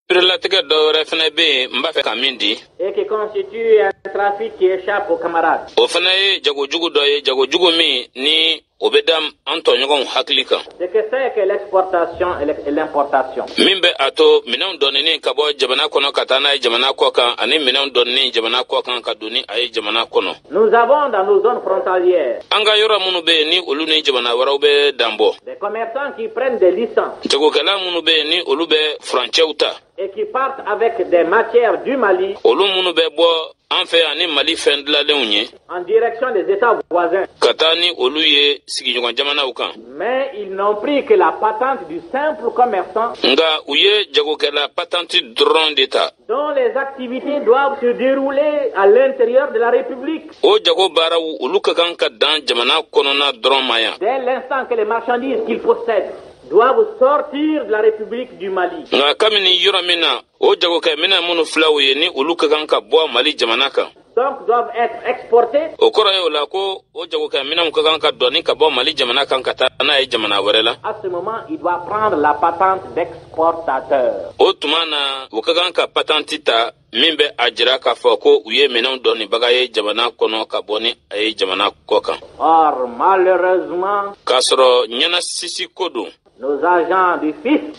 Perelatigɛ dɔ wɛrɛ fana bɛ yen n b'a fɛ ka min di. Et qui constitue un trafic qui échappe aux camarades. O fana ye jagojugu dɔ ye jagojugu min ni o bɛ dan an tɔɲɔgɔnw hakili kan. Ce que c'est que l'exportation et l'importation. Min bɛ a to minɛnw donini ka bɔ jamana kɔnɔ ka taa n'a ye jamana kɔ kan ani minɛnw donini jamana kɔ kan ka don ni a ye jamana kɔnɔ. Nous avons dans nos zones frontalières. An ka yɔrɔ minnu bɛ yen ni olu ni jamana wɛrɛw bɛ dan bɔ. Des commerçants qui prennent des licences. Jagokɛla minnu bɛ yen ni olu bɛ furancɛw ta. Et qui partent avec des matières du Mali. Olu minnu bɛ bɔ an fɛ yan ni Mali fɛn dilalenw ye. En direction des États voisins. Ka taa ni olu ye sigiɲɔgɔn jamanaw kan. Mais ils n'ont pris que la patente du simple commerçant. Nka u ye jagokɛla patanti dɔrɔn de ta. dont les activités doivent se dérouler à l'intérieur de la République. O jago baaraw olu ka kan ka dan jamana kɔnɔna dɔrɔn ma yan. Dès l'instant que les marchandises qu'ils possèdent doivent sortir de la République du Mali. Nka kamini yɔrɔ min na, o jagokɛminɛn minnu filaw ye ni olu ka kan ka bɔ Mali jamana kan. O kɔrɔ ye o la ko o jagokɛminɛnw ka kan ka doni ka bɔ Mali jamana kan ka taa n'a ye jamana wɛrɛ la. À ce moment, il doit prendre la patente d'exportateur. O tuma na u ka kan ka patanti ta min bɛ a jira k'a fɔ ko u ye minɛnw donibaga ye jamana kɔnɔ ka bɔ ni a ye jamana kɔ kan. Or malheureusement, k'a sɔrɔ ɲɛnasisi ko don.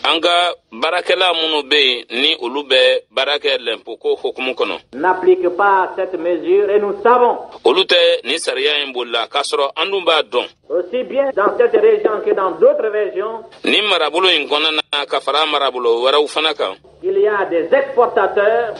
An ka baarakɛla minnu bɛ yen ni olu bɛ baara kɛ lɛnpo ko hukumu kɔnɔ. Olu tɛ nin sariya in boli la k'a sɔrɔ an dun b'a dɔn. Nin marabolo in kɔnɔna na ka fara marabolo wɛrɛw fana kan.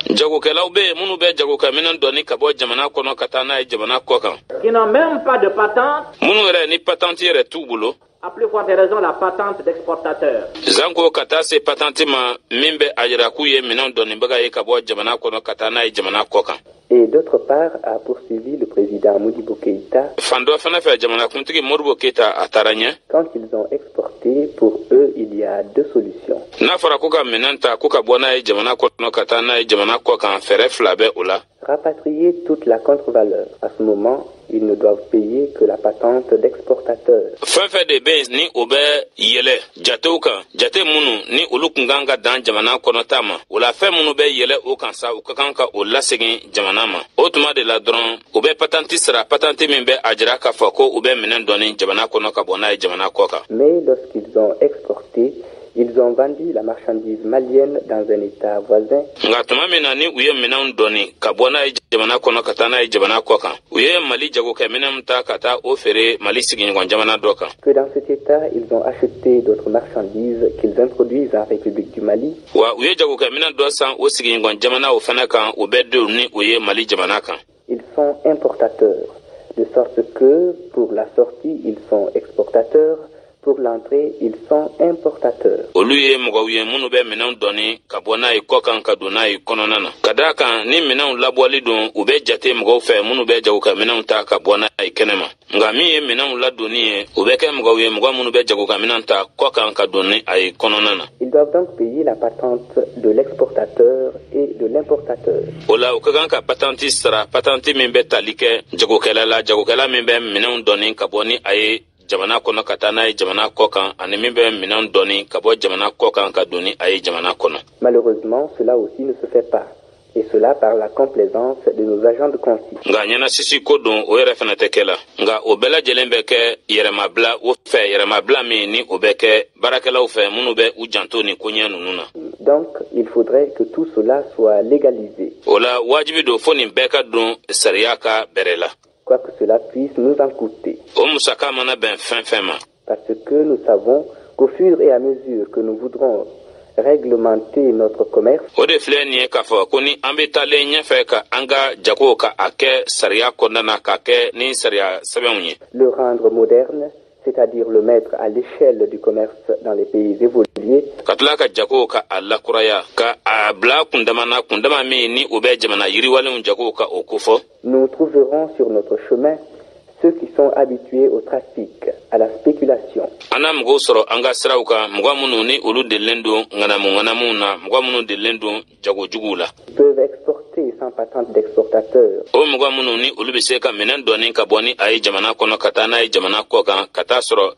Jagokɛlaw bɛ yen minnu bɛ jagokɛminɛn dɔɔni ka bɔ jamana kɔnɔ ka taa n'a ye jamana kɔ kan. Minnu yɛrɛ ni patente yɛrɛ t'u bolo. À plus forte raison la patente d'exportateur. Zanko ka taa se patanti ma min bɛ a jira k'u ye minɛnw donibaga ye ka bɔ jamana kɔnɔ ka taa n'a ye jamana kɔ kan. Et d'autre part, a poursuivi le président Modibo Keïta. Fan dɔ fana fɛ jamanakuntigi Modibo Keïta a taara ɲɛ. Quand ils ont exporté, pour eux, il y a deux solutions. N'a fɔra k'u ka minɛn ta k'u ka bɔ n'a ye jamana kɔnɔ ka taa n'a ye jamana kɔ kan, fɛɛrɛ fila bɛ o la. Rapatrier toute la contre-valeur. À ce moment, ils ne doivent payer que la patente d'exportateur. fɛn fɛn de bɛ yen ni o bɛ yɛlɛ jatew kan jate minnu ni olu kun kan ka dan jamana kɔnɔta ma o la fɛn minnu bɛ yɛlɛ o kan sa u ka kan ka o lasegin jamana ma o tuma de la dɔrɔn u bɛ patanti sara patanti min bɛ a jira k'a fɔ ko u bɛ minɛn doni jamana kɔnɔ ka bɔ n'a ye jamana kɔ kan. Mais lorsqu'ils ont exporté Ils ont vendu la marchandise malienne dans un état voisin. Nka tuma min na ni u ye minɛnw doni ka bɔ n'a ye jamana kɔnɔ ka taa n'a ye jamana kɔ kan, u ye Mali jagokɛ minɛnw ta ka taa o feere Mali sigiɲɔgɔn jamana dɔ kan. Que dans cet état, ils ont acheté d'autres marchandises qu'ils introduisent en République du Mali. Wa u ye jagokɛ minɛn dɔ san o sigiɲɔgɔn jamanaw fana kan, u bɛ don ni o ye Mali jamana kan. Ils sont importateurs, de sorte que pour la sortie, ils sont exportateurs, pour l'entrée, ils sont importateurs. olu ye mɔgɔw ye minnu bɛ minɛnw doni ka bɔ n'a ye kɔ kan ka don n'a ye kɔnɔna na ka d'a kan ni minɛnw labɔli don u bɛ jate mɔgɔw fɛ minnu bɛ jagokɛ minɛnw ta ka bɔ n'a ye kɛnɛma nka min ye minɛnw ladonni ye u bɛ kɛ mɔgɔw ye mɔgɔ minnu bɛ jagokɛ minɛn ta kɔ kan ka don ni a ye kɔnɔna na Ils doivent donc payer la patente de l'exportateur et de l'importateur. o la u ka kan ka patenti sara patenti min bɛ tali kɛ jagokɛla la jagokɛla min bɛ minɛnw doni ka bɔ ni a ye jamana kɔnɔ ka taa n'a ye jamana kɔ kan ani min bɛ minɛnw doni ka bɔ jamana kɔ kan ka don ni a ye jamana kɔnɔ Malheureusement, cela aussi ne se fait pas. et cela par la complaisance de nos agents de consigne. Nka ɲɛnasisi ko don o yɛrɛ fana tɛ kɛ la nka o bɛɛ lajɛlen bɛ kɛ yɛrɛmabila o fɛ yɛrɛmabila min ni o bɛ kɛ baarakɛlaw fɛ minnu bɛ u janto nin koɲɛ ninnu na. donc il faudrait que tout cela soit légalisé. o la wajibi don fo nin bɛɛ ka don sariya ka bɛrɛ la. quoi que cela puisse nous en coûter. o musaka mana bɛn fɛn o fɛn ma. Parce que nous savons qu'au fur et à mesure que nous voudrons réglementer notre commerce. O de filɛ nin ye k'a fɔ ko ni an bɛ taalen ɲɛfɛ ka an ka jago ka a kɛ sariya kɔnɔna na k'a kɛ ni sariya sɛbɛnw ye. Le rendre moderne, c'est-à-dire le mettre à l'échelle du commerce dans les pays évolués. Ka tila ka jago ka a lakuraya ka a bila kundama na kundama min ni o bɛ jamana yiriwalenw jago ka o kofɔ. Nous trouverons sur notre chemin ceux qui sont habitués au trafic, à la spéculation. An na mɔgɔw sɔrɔ an ka siraw kan mɔgɔ minnu ni olu delilen don ŋanamuŋanamuw na mɔgɔ minnu delilen don jago juguw la. peuvent exporter sans patente d'exportateur. O mɔgɔ minnu ni olu bɛ se ka minɛn doni ka bɔ ni a ye jamana kɔnɔ ka taa n'a ye jamana kɔ kan ka taa sɔrɔ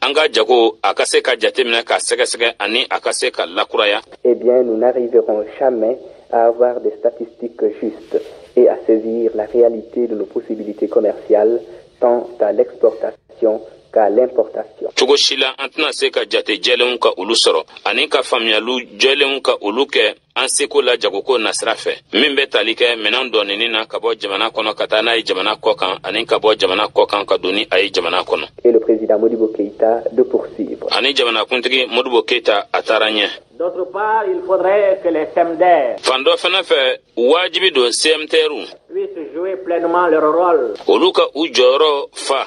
an ka jago a ka se ka jateminɛ ka sɛgɛsɛgɛ ani a ka se ka lakuraya eh bien nous n'arriverons jamais à avoir des statistiques justes et à saisir la réalité de nos possibilités commerciales tant à l'exportation qu'à l'importation. cogo si la an tɛna se ka jate jɛlenw ka olu sɔrɔ ani ka faamuyaliw jɛlenw ka olu kɛ an seko la jagoko nasira fɛ min bɛ tali kɛ minɛn dɔɔnini na ka bɔ jamana kɔnɔ ka taa n'a ye jamana kɔ kan ani ka bɔ jamana kɔ kan ka don ni a ye jamana kɔnɔ ani jamanakuntigi modibo keyita a taara ɲɛ fan dɔ fana fɛ wajibi don cmtrw olu ka u jɔyɔrɔ fa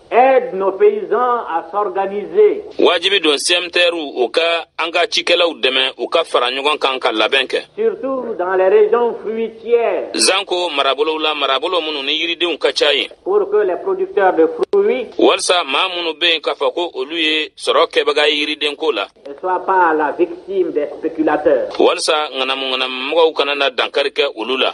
aident nos paysans à s'organiser. Wajibi don SMDR u ka an ka cikɛlaw dɛmɛ u ka fara ɲɔgɔn kan ka labɛn kɛ. Surtout dans les régions fruitières. Zanko marabolow la marabolo minnu ni yiridenw ka ca yen. Pour que les producteurs de fruits. Walisa maa minnu bɛ yen k'a fɔ ko olu ye sɔrɔ kɛbaga ye yiridenko la. Ne soient pas la victime des spéculateurs. Walisa ŋanamu ŋanamumɔgɔw kana na dankari kɛ olu la.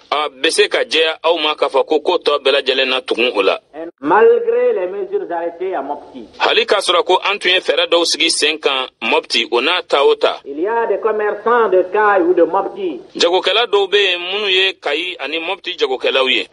a bɛ se ka jɛya aw ma k'a fɔ ko ko tɔ bɛɛ lajɛlen na tugun o la hali k'a sɔrɔ ko an tun ye fɛɛrɛ dɔw sigi sen kan mɔpti o n'a ta o ta jagokɛla dɔw bɛ yen minnu ye kayi ani mɔpti jagokɛlaw ye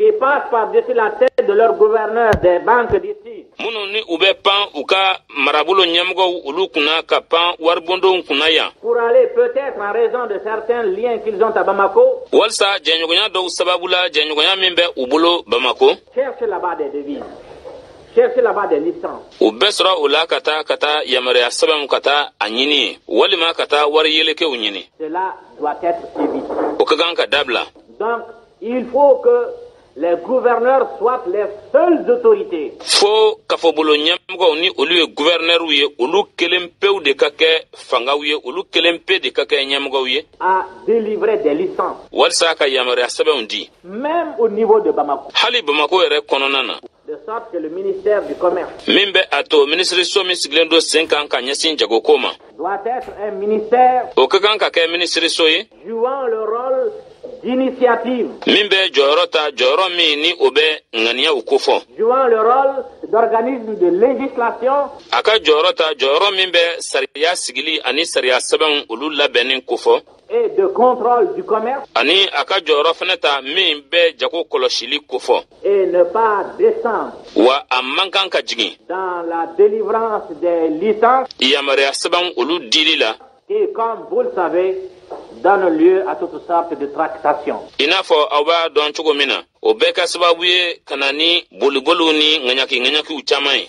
minnu ni u bɛ pan u ka marabolo ɲɛmɔgɔw olu kunna ka pan waribondonw kunna yan. Pour aller peut-être en raison de certains liens qu'ils ont à Bamako. Walisa jɛɲɔgɔnya dɔw sababu la jɛɲɔgɔnya min bɛ u bolo Bamako. Chercher là-bas des devises. Chercher là-bas des licences. U bɛ sɔrɔ o la ka taa ka taa yamaruya sɛbɛnw ka taa a ɲini yen walima ka taa wari yelekew ɲini. Cela doit être évité. O ka kan ka dabila. Donc il faut que les gouverneurs soient les seules autorités. Fo kafobolo ɲɛmɔgɔw ni olu ye gouverneurs ye olu kelen pew de ka kɛ fangaw ye olu kelen pe de ka kɛ ɲɛmɔgɔw ye. à délivrer des licences. walisa ka yamaruya sɛbɛnw di. même au niveau de Bamako. hali Bamako yɛrɛ kɔnɔna na. min bɛ a to minisiriso min sigilen don sen kan ka ɲɛsin jagoko ma o ka kan ka kɛ minisiriso ye min bɛ jɔyɔrɔ ta jɔyɔrɔ min ni o bɛ ŋaniyaw kofɔ a ka jɔyɔrɔ ta jɔyɔrɔ min bɛ sariya sigili ani sariya sɛbɛnw olu labɛnni kofɔ et de contrôle du commerce ani a ka jɔyɔrɔ fana ta min bɛ jago kɔlɔsili kofɔ et ne pas descendre wa a man kan ka jigin dans la délivrance des licences yamaruya sɛbɛnw olu dili la qui comme vous le savez donne lieu à toutes sortes de tractations i n'a fɔ aw b'a dɔn cogo min na o bɛ kɛ sababu ye ka na ni boliboliw ni ŋaɲaki-ŋaɲakiw caman ye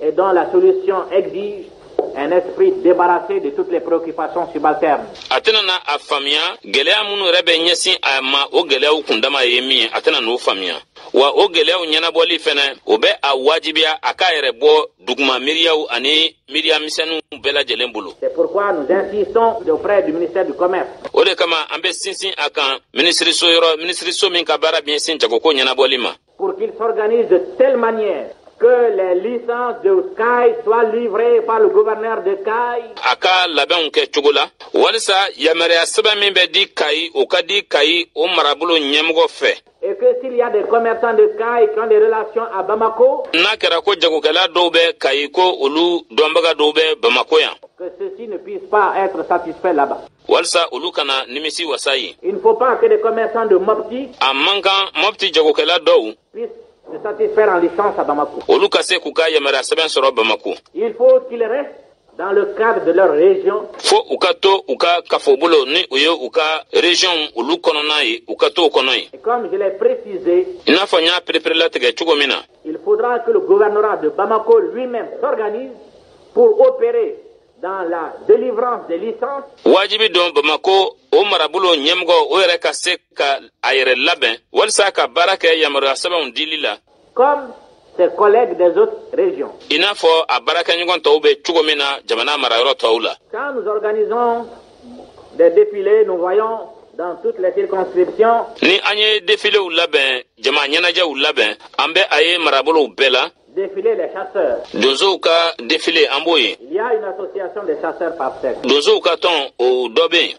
Et dont la solution exige un esprit débarrassé de toutes les préoccupations subalternes. a tɛna na a faamuya gɛlɛya minnu yɛrɛ bɛ ɲɛsin a ma o gɛlɛyaw kundama ye min ye a tɛna n'o faamuya wa o gɛlɛyaw ɲɛnabɔli fɛnɛ o bɛ a wajibiya a k'a yɛrɛ bɔ duguma miiriyaw ani miiriya misɛnninw bɛɛ lajɛlen bolo C'est pourquoi nous insistons auprès du ministère du Commerce o de kama an bɛ sinsin a kan minisiriso yɔrɔ minisiriso min ka baara bɛ ɲɛsin jagoko ɲɛnabɔli ma Pour qu'il s'organise de telle manière que les licences de Kayes soient livrées par le gouverneur de Kayes. A ka labɛnw kɛ cogo la walisa yamaruya sɛbɛn min bɛ di Kayi o ka di Kayi o marabolo ɲɛmɔgɔ fɛ. Et que s'il y a des commerçants de Kayes qui ont des relations à Bamako. N'a kɛra ko jagokɛla dɔw bɛ Kayi ko olu dɔnbaga dɔw bɛ Bamako yan. Que ceux-ci ne puissent pas être satisfaits là-bas. walisa olu kana nimisiwasa yen il ne faut pas que des commerçants de Mopti a man kan mɔpti jagokɛla dɔw puissent se satisfaire en licence à Bamako olu ka se k'u ka yamaruya sɛbɛn sɔrɔ bamako il faut qu'ils restent dans le cadre de leur région. Fo u ka to u ka kafobolo ni u ye u ka région olu kɔnɔna ye u ka to o kɔnɔ ye. Et comme je l'ai précisé. I n'a fɔ n y'a pereperelatigɛ cogo min na. Il faudra que le gouvernorat de Bamako lui-même s'organise pour opérer wajibi dɔn bamakɔ o marabolo ɲɛmɔgɔ o yɛrɛ ka se ka a yɛrɛ labɛn walisa ka baara kɛ yamaruya sɛbɛnw dili la i n'a fɔ a baarakɛɲɔgɔn tɔw bɛ cogo min na jamana marayɔrɔ tɔw la ni an ye defilew labɛn jama ɲɛnajɛw labɛn an bɛ a ye marabolow bɛɛ la donsow ka defile an b'o ye donsow ka tɔn o dɔ bɛ yen